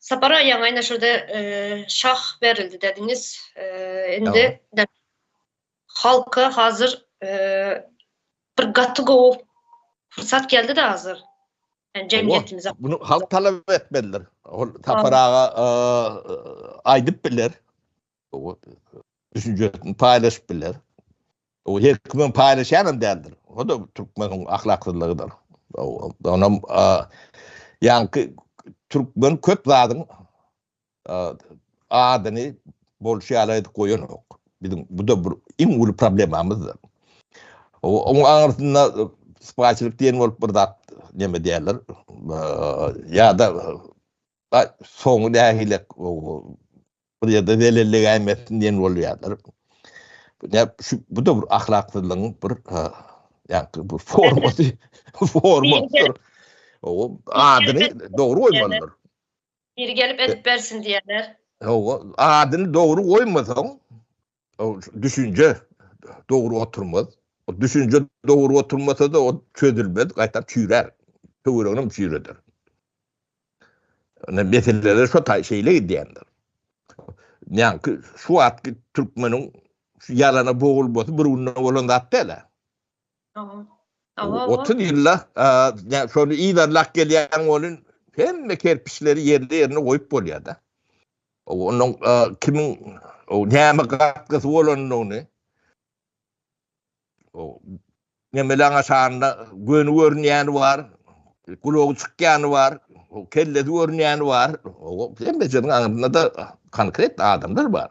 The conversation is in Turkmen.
Sapar aga ýaňy ine şurada şah berildi dediňiz. Indi halka hazır bir gaty gowy pursat geldi de hazır. Yani cemiyetimize. Bunu halk talep etmelidir. Sapar aga aydıp bilir. düşünjesini paýlaşyp biler. O her kimin paýlaşýan hem däldir. O da türkmeniň ahlaksyzlygydyr. Onam ýaňky türkmen köp zadyň adyny bolşy ýaly aýdyp goýanok. Biziň bu da bir iň uly problemamyzdyr. Oň aňyrsynda spaçylyk diýen bolup bir zat näme diýerler? Ýa-da soňy nähili bir ýerde zelellegäýmesin diýen bolýarlar. Bu da bir ahlaksyzlygyň bir ýa-da bir formasy, formasydyr. O adyny dogry goýmalydyr. Biri gelip edip bersin diýerler. Adyny dogry goýmasaň, o düşünce dogry oturmaz. O düşünce dogry oturmasa da o çözülmez, gaýtap çüýrär. Töweregini çüýreder. Ýöne meseleler şo taý şeýle gidýändir. Ýaňky şu wagtky türkmeniň şu ýalana bogulmasy bir günde bolan zat däl. Otuz ýylla şony yzarlap gelýän bolun, hemme kerpiçleri ýerli-ýerine goýup bolýar-da. Onuň kimiň näme gatgysy bolandygyny, nemeleň aşagynda göni görünýäni bar, gulagy çykýany bar, kellesi görünýäni bar, hemmesiniň aňrynda-da konkret adamlar bar.